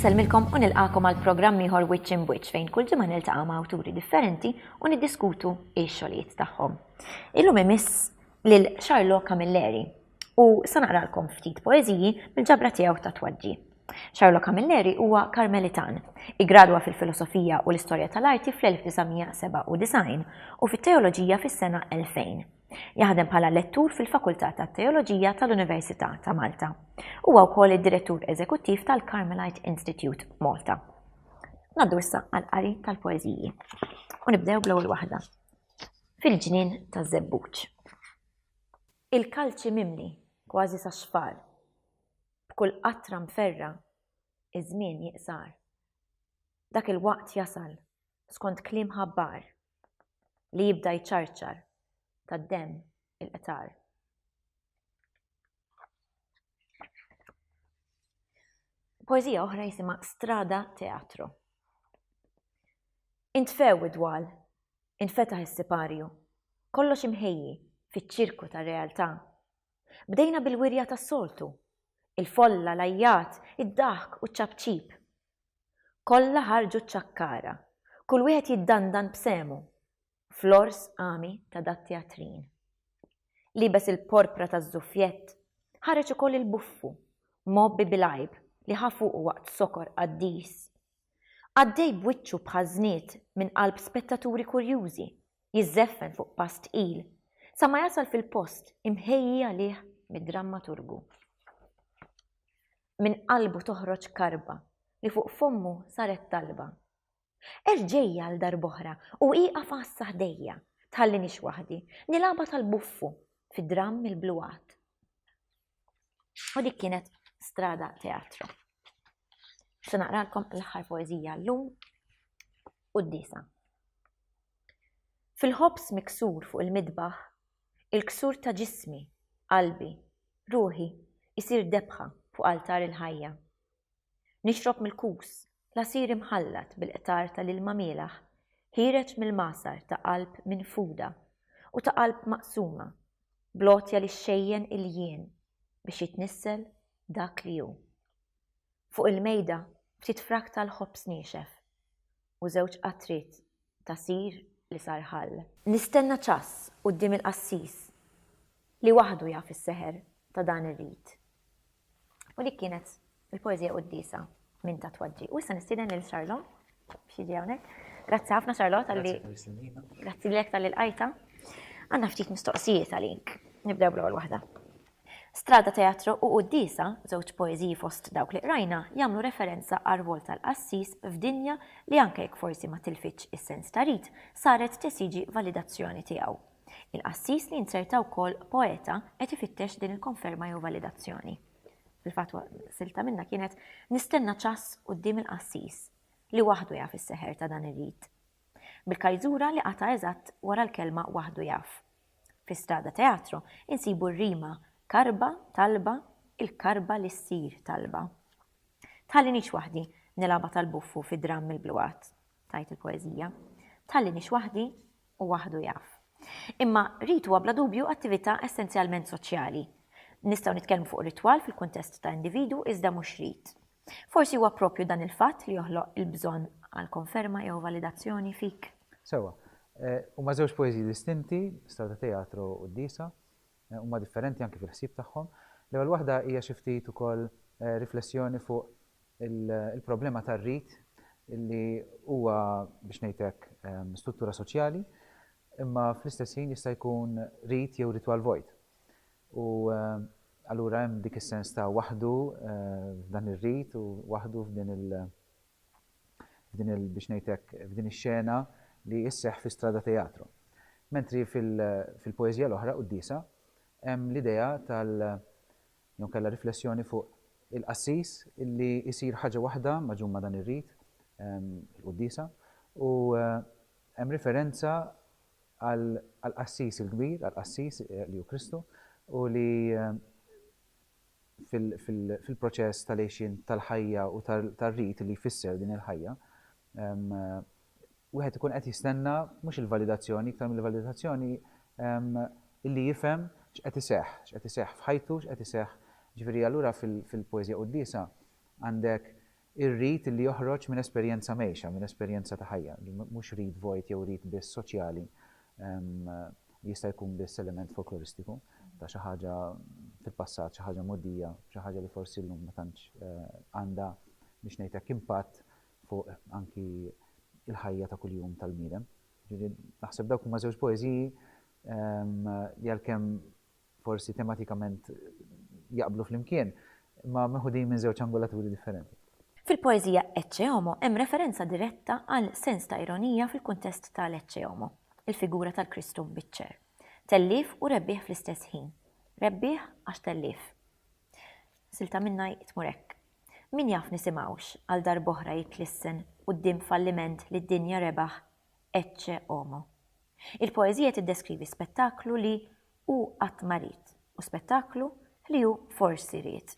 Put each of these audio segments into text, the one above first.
Insellmilkom u nilqakom għal programm ieħor Wiċċ in Wiċċ fejn kull ġimgħa niltaqa' ma' awturi differenti u niddiskutu x-xogħlijiet tagħhom. Illum imiss lil Charlo Camilleri, u sa naqralkom ftit poeżiji mill-ġabra tiegħu ta' twaġġi. Charlo Camilleri huwa Karmelitan. Igradwa fil-filosofija u l-istorja tal-arti fl-1997 u fit-teoloġija fis-sena 2000. Jaħdem bħala lettur fil-Fakultà tat-Teoloġija tal-Università ta' Malta. Huwa wkoll id-Direttur Eżekuttiv tal-Carmelite Institute Malta. Naddu issa għal-qari tal-poeżiji. U nibdew bl-ewwel waħda. Fil-ġnien taż-żebbuġ. Il-kalċi mimli kważi sax-xfar. B'kull qatra mferrgħa iż-żmien jiqsar. Dak il-waqt jasal, skont kliem ħabbar, li jibda jċarċar tad-demm il-qtar. Poeżija oħra jisimha Strada Teatro. Intfew id-dwal Infetaħ is-siparju. Kollox imħejji fiċ-ċirku tar-realtà. Bdejna bil-wirja tas-soltu. Il-folla, l-għajjat, id-daħk u ċ-ċapċip. Kollha ħarġu ċ-ċakkara, kull wieħed jiddandan b'sehmu. Flors Ami ta' dat-teatrin. Liebes il-porpra taż-żuffjett, ħareġ ukoll il-buffu, mgħobbi bil-għajb li ħa fuqu waqt sokor qaddis. Għaddej b'wiċċu bħal żnied minn qalb spettaturi kurjużi, jiżżeffen fuq pass tqil, sa ma jasal fil-post imħejji għalih mid-drammaturgu. Minn qalbu toħroġ karba li fuq fommu saret talba. Erġejja għal darb'oħra u ieqaf għassa ħdejja, tħallinix waħdi, nilgħabha tal-buffu fid-dramm il-bluwat. U dik kienet strada teatru. Se naqralkom l-aħħar poeżija llum u d-disa. Fil-ħobs miksur fuq il-midbaħ, il-ksur ta' ġismi, qalbi, ruħi, isir debħa fuq altar il-ħajja. Nixrob mill-kus, l-għasir imħallat bil-qtar tal-ilma mielaħ, ħiereġ mill-magħsar ta' qalb minfuda u ta' qalb maqsuma, bl-għotja li xxejjen il-jien biex jitnissel dak li hu. Fuq il-mejda, ftit frak tal-ħobż niexef. u żewġ qatriet ta' sir li sar ħall. Nistenna ċass quddiem il-qassis li waħdu jaf is-seħer ta' dan ir-rit. U dik kienet il-poeżija quddiesa minn ta' Twaġġi. U issa nistieden lil Sarlon biex jiġi hawnhekk. Grazzi ħafna Sarlon talli. Grazzi lilek tal-ilqajta. Għandna ftit mistoqsijiet għalik. Nibdew bl-ewwel waħda. Strada Teatru u Quddiesa, żewġ poeżiji fost dawk li qrajna, jagħmlu referenza għar-rwol tal-qassis f'dinja li anke jekk forsi ma tilfitx is-sens ta' rit, saret tesiġi validazzjoni tiegħu. Il-qassis li jinzerta wkoll poeta qed ifittex din il-konferma jew validazzjoni. Fil-fatt silta minnha kienet Nistenna ċass quddiem il-qassis, li waħdu jaf is-seħer ta' dan ir-rit. bil-kajżura li qata' eżatt wara l-kelma waħdu jaf. Fi Strada Teatro insibu r-rima karba, talba, il-karba li ssir talba. Tħallinix waħdi nilgħabha tal-buffu fi dramm mill-bluwat, tgħid il-poeżija. Tħallinix waħdi u waħdu jaf. Imma rit huwa bla dubju attività essenzjalment soċjali. Nistgħu nitkellmu fuq ritwal fil-kuntest ta' individu iżda mhux rit. Forsi huwa proprju dan il-fatt li joħloq il-bżonn għal konferma jew validazzjoni fik. Sewwa. Huma żewġ poeżiji distinti, Strada ta' Teatru u d-Disa. Huma differenti anki fil-ħsieb tagħhom. L-ewwel waħda hija xi ftit ukoll riflessjoni fuq il-problema tar-rit li huwa, biex ngħid hekk, struttura soċjali, imma fl-istess ħin jista' jkun rit jew ritwal vojt. U allura hemm dik is-sens ta' waħdu f'dan ir-rit u waħdu f'din il f'din il biex ngħid hekk f'din ix-xena li sseħħ fi Strada Teatro. Mentri fil fil-poeżija l-oħra, Quddiesa, hemm l-idea tal jew inkella riflessjoni fuq il-qassis li jsir ħaġa waħda magħġun ma' dan ir-rit, il-Quddiesa, u hemm riferenza għall-Qassis il-Kbir, għall-Qassis li hu Kristu, u li fil-proċess tal-għixien tal-ħajja u tar-rit li jfisser din il-ħajja, wieħed ikun qed jistenna mhux il-validazzjoni, iktar mill-validazzjoni illi jifhem x'qed iseħħ, x'qed iseħħ f'ħajtu, x'qed iseħħ. Ġifieri allura fil-poeżija quddiesa għandek Ir-rit li joħroġ minn esperjenza mgħejxa, minn esperjenza ta' ħajja, mhux rit vojt jew rit biss soċjali, jista' jkun biss element folkloristiku ta' xi ħaġa fil-passat, xi ħaġa mogħdija, xi ħaġa li forsi llum ma tantx għandha biex ngħid hekk impatt fuq anki l-ħajja ta' kuljum tal-bniedem. Naħseb dawk huma żewġ poeżiji li għalkemm forsi tematikament jaqblu flimkien, imma meħudin minn żewġ angolaturi differenti. Fil-poeżija Ecce Homo hemm referenza diretta għal sens ta' ironija fil-kuntest ta' l-Ecce Homo, il-figura tal-Kristu mbiċċer. Tellief u rebbieħ fl-istess ħin. Rebbieħ għax tellief. Silta minnha tmur hekk. Min jaf nisimgħux għal darb'oħra jitlissen quddiem falliment li d-dinja rebaħ Ecce Homo. Il-poeżija tiddeskrivi spettaklu li hu qatt ma ried u spettaklu li hu forsi ried.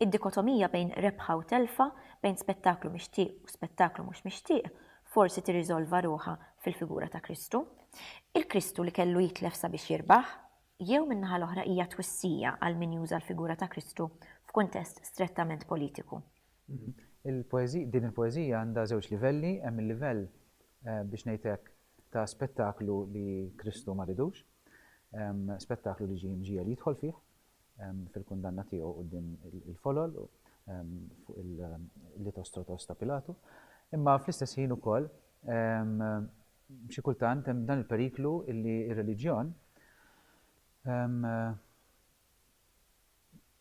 Id-dikotomija bejn rebħa u telfa, bejn spettaklu mixtieq u spettaklu mhux mixtieq, forsi tirriżolva ruħha fil-figura ta' Kristu. Il-Kristu li kellu jitlef sabiex jirbaħ? Jew min-naħa l-oħra hija twissija għal min juża l-figura ta' Kristu f'kuntest strettament politiku? Din il-poeżija għandha żewġ livelli, hemm il-livell, biex ngħid hekk, ta' spettaklu li Kristu ma ridux, spettaklu li ġie mġiegħel jidħol fih fil-kundanna tiegħu quddiem il-folol fuq il-litostrotos ta' Pilatu. Imma fl-istess ħin ukoll xi kultant hemm dan il-periklu li r-reliġjon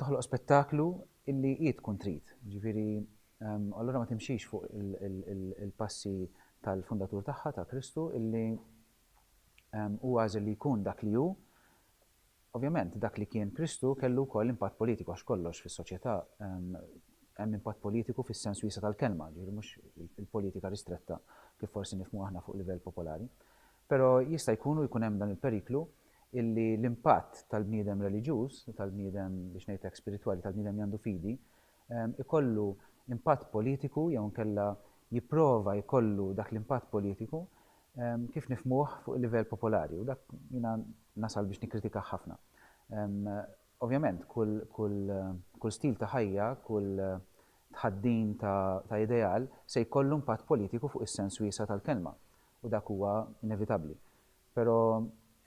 toħloq spettaklu illi hi tkun trid. Ġifieri, allura ma timxix fuq il-passi tal-fundatur tagħha, ta' Kristu, illi hu għażel li jkun dak li hu. Ovvjament, dak li kien Kristu kellu wkoll impatt politiku għax kollox fis-soċjetà hemm impatt politiku fis-sens wiesa' tal-kelma, ġifieri mhux il-politika ristretta kif forsi nifhmu aħna fuq livell popolari. Però jista' jkun u jkun hemm dan il-periklu illi l-impatt tal-bniedem reliġjuż, tal-bniedem biex ngħid hekk spiritwali, tal-bniedem li għandu fidi, ikollu impatt politiku jew inkella jipprova jkollu dak l-impatt politiku kif nifhmuh fuq il-livell popolari u dak jiena nasal biex nikkritikah ħafna. Ovvjament, kull, kull, kull stil ta' ħajja, kull tħaddin ta' ideal se jkollu impatt politiku fuq is-sens wiesa' tal-kelma. u dak huwa inevitabbli. Però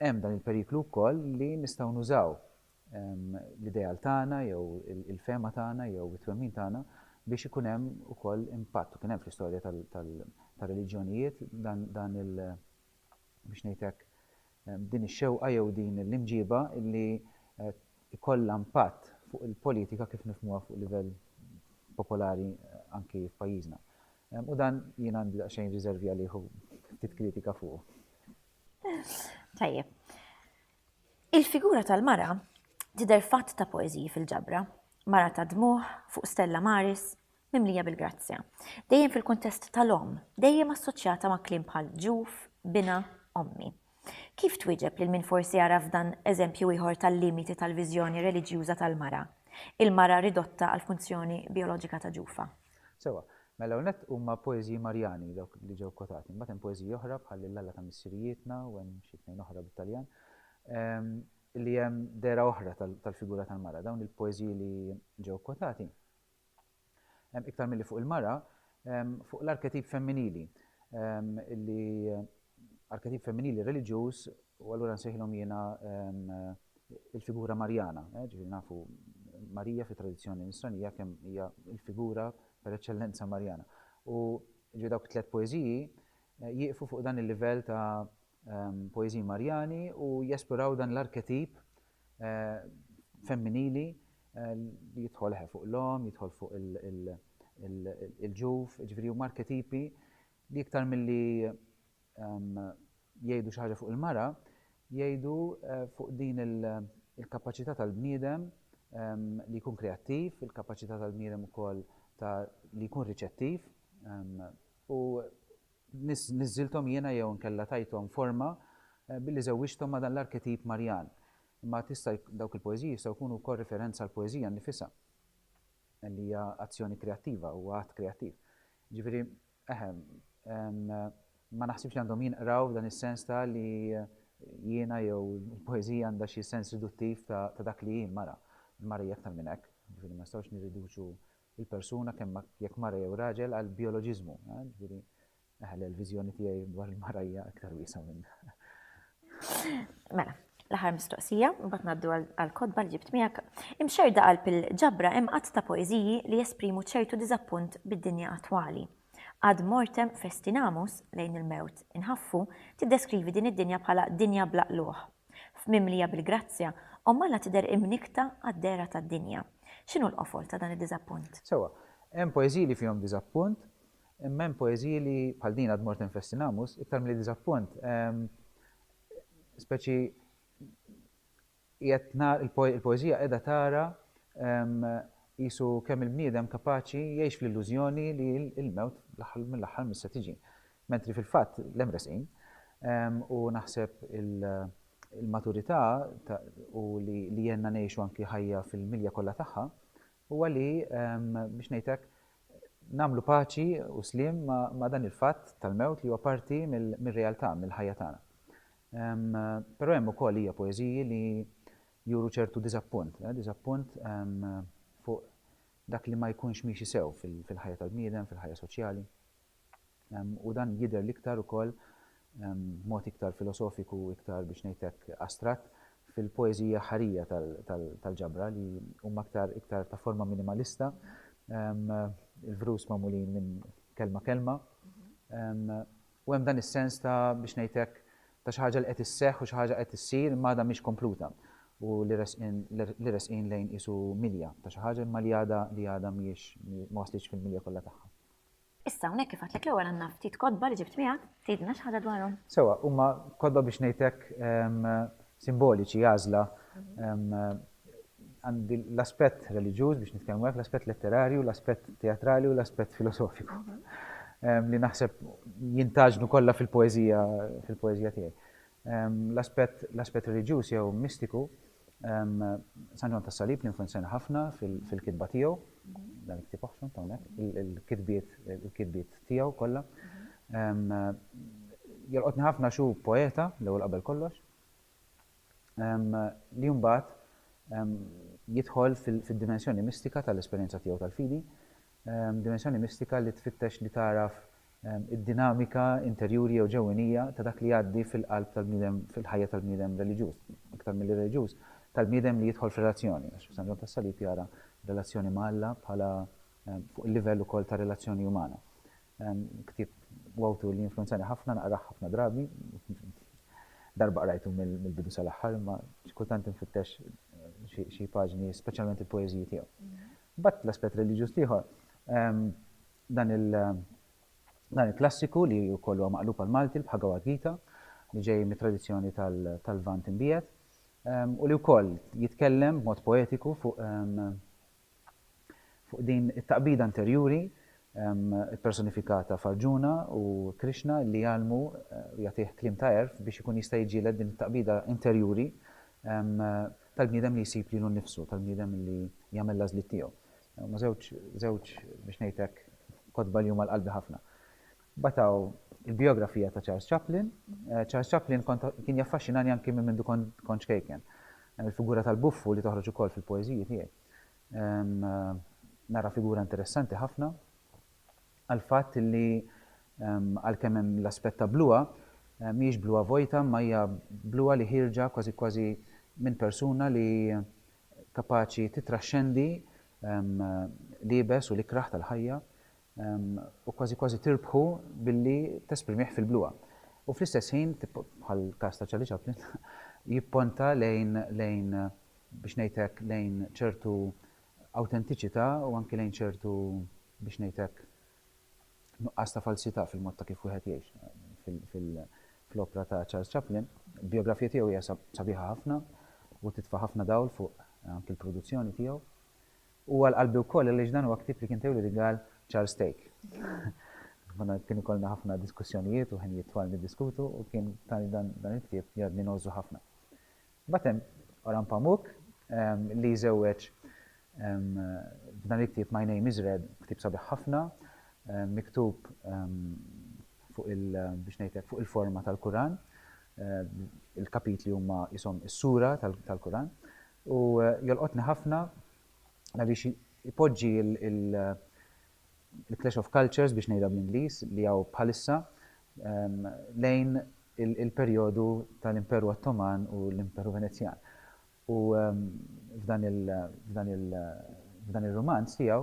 hemm dan il-periklu wkoll li nistgħu nużaw l-ideal tagħna jew il-fehma tagħna jew it-twemmin tagħna biex ikun hemm ukoll impatt. U kien hemm fl-istorja tar-reliġjonijiet dan il- biex ngħid hekk, din ix-xewqa jew din l-imġiba li jkollha impatt fuq il-politika kif nifhmuha fuq livell popolari anki f'pajjiżna. U dan jien għandi daqsxejn riżervi għalih u ftit kritika fuqu. Tajjeb. Il-figura tal-mara tidher fatt ta' poeżiji fil-ġabra, mara ta' dmugħ fuq stella maris, mimlija bil-grazzja. Dejjem fil-kuntest tal-omm, dejjem assoċjata ma' kliem bħal ġuf, bina, ommi. Kif twieġeb lil min forsi jara f'dan eżempju ieħor tal-limiti tal-viżjoni reliġjuża tal-mara, il-mara ridotta għall-funzjoni bijoloġika ta' ġufa? Sewwa, mela l-ewwel nett huma poeżiji Marjani dawk li ġew kkwotati. Imbagħad hemm poeżiji oħra bħal Lill-Alla ta' Missirijietna u hemm xi tnejn oħra bit-Taljan li hemm dehra oħra tal-figura tal-mara. Dawn il-poeżiji li ġew kkwotati iktar milli fuq il-mara, fuq l-arketip femminili, li arketip femminili reliġjuż u allura nsejħilhom jiena il-figura Marjana, ġifieri nafu Marija fit-tradizzjoni nisranija kemm hija l-figura per eċċellenza Marjana. U ġifieri dawk it-tliet poeżiji jieqfu fuq dan il-livell ta' poeżiji Marjani u jesploraw dan l-arketip femminili li jidħol eħe fuq l-omm, jidħol fuq il-ġuf, jiġifieri huma arketipi li iktar milli jgħidu xi ħaġa fuq il-mara, jgħidu fuq din il-kapaċità tal-bniedem li jkun kreattiv, il-kapaċità tal-bniedem ukoll ta' li jkun riċettiv u Niżżilthom jiena jew inkella tajthom forma billi żewwiġthom ma' dan l-arketip Marjan. Imma tista' dawk il-poeżiji jistgħu jkunu wkoll riferenza għall-poeżija nnifisha li hija azzjoni kreattiva, huwa att kreattiv. Jiġifieri, eħe, ma naħsibx li għandhom jinqraw f'dan is-sens ta' li jiena jew il-poeżija għandha xi sens riduttiv ta' dak li hi l-mara. Il-mara hija aktar minn hekk, jiġifieri ma nistgħux nirriduċu il-persuna kemm jekk mara jew raġel għall-bijoloġiżmu, ġifieri, eħe le l-viżjoni tiegħi dwar il-mara hija iktar wiesgħa minn. Mela, l-aħħar mistoqsija, mbagħad ngħaddu għall-kotba li ġibt miegħek. Imxerda qalb il-ġabra hemm għadd ta' poeżiji li jesprimu ċertu diżappunt bid-dinja attwali. Ad mortem festinamus, lejn il-mewt inħaffu, tiddeskrivi din id-dinja bħala dinja bla qlugħ, F'mimlija bil-grazzja, Omm Alla tidher imnikkta għad-dehra tad-dinja. X'inhu l-qofol ta' dan id-diżappunt? Sewwa, hemm poeżiji li fihom diżappunt, imma hemm poeżiji li, bħal din Ad mortem festinamus, iktar milli diżappunt, speċi qiegħed nara, il-poeżija qiegħda tara qisu kemm il-bniedem kapaċi jgħix fl-illużjoni li l-mewt fl-aħħar mill-aħħar mhix se tiġi. Mentri fil-fatt l-hemm resqin u naħseb il-maturità u li għenna ngħixu anki ħajja fil-milja kollha tagħha huwa li biex ngħid hekk nagħmlu paċi u sliem ma' dan il-fatt tal-mewt li huwa parti mir-realtà, mill-ħajja tagħna. Però hemm ukoll hija poeżiji li juru ċertu diżappunt, diżappunt fuq dak li ma jkunx miexi sew fil-ħajja tal-bniedem, fil-ħajja soċjali. u dan jidher l-iktar ukoll b'mod iktar filosofiku u iktar biex ngħid hekk astratt fil-poeżiji aħħarija tal-ġabra li huma iktar iktar ta' forma minimalista, il-vrus magħmulin minn kelma kelma. U hemm dan is-sens ta' biex ngħid hekk ta' xi ħaġa li qed isseħħ u xi ħaġa qed issir imma għadha mhix kompluta u li resqin li resqin lejn qisu milja ta' xi ħaġa imma li għadha li għadha mhijiex ma waslitx fil-milja kollha tagħha. Issa hawnhekk kif għedtlek l-ewwel għandna ftit kotba li ġibt miegħek, tgħidilna xi ħaġa dwarhom? Sewwa, huma kotba biex ngħidlek simboliċi, għażla. Għandi l-aspett reliġjuż biex nitkellmu hekk, l-aspett letterarju, l-aspett teatrali u l-aspett filosofiku li naħseb jintgħaġnu kollha fil-poeżija fil-poeżija tiegħi. L-aspett l-aspett reliġjuż jew mistiku, San Ġwann tas-Salib jinfluwenzjana ħafna fil-kitba tiegħu, dan il-ktieb oħxon ta' hawnhekk, il-kitbiet il-kitbiet tiegħu kollha. Jolqotni ħafna għax hu poeta l-ewwel qabel kollox, li mbagħad jidħol fid-dimensjoni mistika tal-esperjenza tiegħu tal-fidi, dimensjoni mistika li tfittex li tagħraf id-dinamika interjuri jew ġewwenija ta' dak li jgħaddi fil-qalb tal-bniedem, fil-ħajja tal-bniedem reliġjuż, iktar milli reliġjuż, tal-bniedem li jidħol f'relazzjoni, għax San Ġwann tas-Salib jara r-relazzjoni ma' Alla bħala fuq il-livell ukoll ta' relazzjoni umana. Ktieb u awtur li jinfluwenzani ħafna, naqrah ħafna drabi, darba qrajtu mill-bidu sal-aħħar, imma xi kultant infittex xi paġni, speċjalment il-poeżiji tiegħu. Imbagħad l-aspett reliġjuż l-ieħor, Dan il-klassiku li wkoll huwa maqlub għall-Malti, l-Bhagawad Gita, li ġej mit-tradizzjoni tal-Lvant imbiegħed, u li wkoll jitkellem b'mod poetiku fuq fuq din it-taqbida interjuri ppersonifikata f'Arjuna u Krishna li jgħallmu u jagħtih kliem ta' għerf biex ikun jista' jiġġieled din it-taqbida interjuri tal-bniedem li jsib lilu nnifsu, tal-bniedem li jagħmel l-għażliet tiegħu. Huma żewġ, żewġ, biex ngħid hekk, kotba li huma għal qalbi ħafna. Mbagħad hawn il-bijografija ta' Charles Chaplin. Charles Chaplin kont kien jaffaxxinani anki minn mindu kont kont ċkejken. Il-figura tal-buffu li toħroġ ukoll fil-poeżiji tiegħi. Nara figura interessanti ħafna għall-fatt li għalkemm hemm l-aspett ta' bluha, mhijiex bluha vojta imma hija bluha li ħierġa kważi kważi minn persuna li kapaċi tittraxxendi l-iebes u l-ikrah tal-ħajja u kważi kważi tirbħu billi tesprimih fil-bluha. U fl-istess ħin, bħall-każ ta' Charlie Chaplin, jipponta lejn, lejn, biex ngħid hekk, lejn ċertu awtentiċità u anki lejn ċertu, biex ngħid hekk, nuqqas ta' falsità fil-mod ta' kif wieħed jgħix fil-opra ta' Charles Chaplin. Il-bijografija tiegħu hija sabiħa ħafna u titfa' ħafna dawl fuq anki l-produzzjoni tiegħu. U għal qalbi wkoll għaliex dan huwa ktieb li kien tewliedi Gall Charles Stake. Konna kien ikollna ħafna diskussjonijiet u ħin jitwal niddiskutu u kien tani dan il-ktieb li għadni nogħżu ħafna. Mbagħad hemm Oran Pamuk li jżewweġ f'dan il-ktieb My Name Is Red, ktieb sabiħ ħafna, miktub fuq il biex ngħidlek fuq il-forma tal-Kuran. Il-kapitli huma qishom is-sura tal-Kuran. U jolqotni ħafna għaliex ipoġġi il-clash of cultures biex ngħidha bl-Ingliż li hawn bħalissa lejn il-perjodu tal-Imperu Ottoman u l-Imperu Venezjan. U f'dan ir-rumanz tiegħu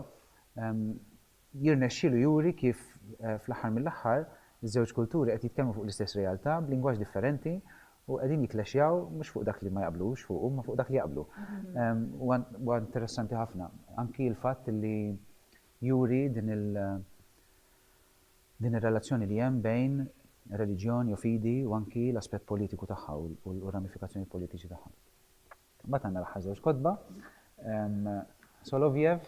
jirnexxielu juri kif fl-aħħar mill-aħħar iż-żewġ kulturi qed jitkellmu fuq l-istess realtà b'lingwaġġ differenti U qegħdin jikklexjaw mhux fuq dak li ma jaqblux fuqu imma fuq dak li jaqblu. Huwa interessanti ħafna anki l-fatt li juri din il din ir-relazzjoni li hemm bejn reliġjon jew fidi u anki l-aspett politiku tagħha u r-ramifikazzjonijiet politiċi tagħha. Imbagħad għandna l-aħħar żewġ kotba, Solovjev,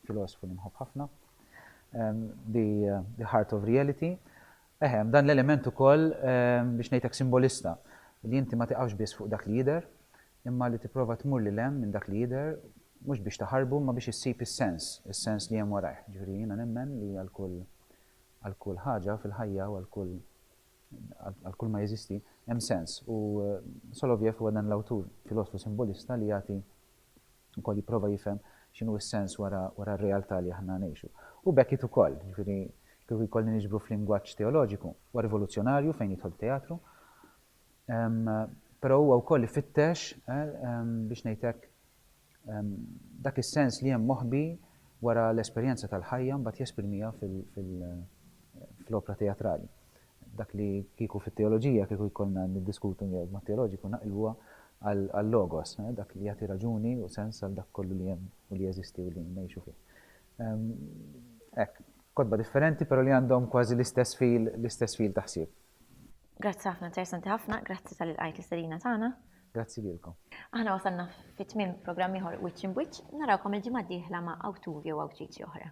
filosfu li nħobb ħafna, The Heart of Reality, eħe, dan l-element ukoll biex ngħidlek simbolista, li inti ma tiqafx biss fuq dak li jidher, imma li tipprova tmur lil hemm minn dak li jidher, mhux biex taħarbu imma biex issib is-sens, is-sens li hemm warajh. Jiġifieri jiena nemmen li għal kull għal kull ħaġa fil-ħajja u għal kull għal kull ma jeżisti, hemm sens, u Solovjev huwa dan l-awtur, filosfu simbolista li jagħti wkoll jipprova jifhem x'inhu s-sens wara wara r-realtà li aħna ngħixu. U Beckett ukoll, jiġifieri kieku jkollni niġbru f'lingwaġġ teoloġiku, huwa rivoluzzjonarju fejn jidħol teatru, però huwa wkoll ifittex biex ngħid hekk Dak is-sens li hemm moħbi wara l-esperjenza tal-ħajja mbagħad jesprimiha fl-opra teatrali. Dak li kieku fit-teoloġija kieku jkollna niddiskutu jew mod teoloġiku naqilbuha għal-logos, dak li jagħti raġuni u sens għal dak kollu li hemm u li jeżisti u li ngħixu fih. Hekk, kotba differenti però li għandhom kważi l-istess fil, l-istess fil ta' ħsieb. Grazzi ħafna, interessanti ħafna, grazzi tal-li lqajt l-istedina tagħna. Grazzi lilkom. Aħna wasalna fi tmiem programm ieħor Wiċċ Imb'Wiċċ. Narawkom il-ġimgħa d-dieħla ma' awtur jew awtriċi oħra.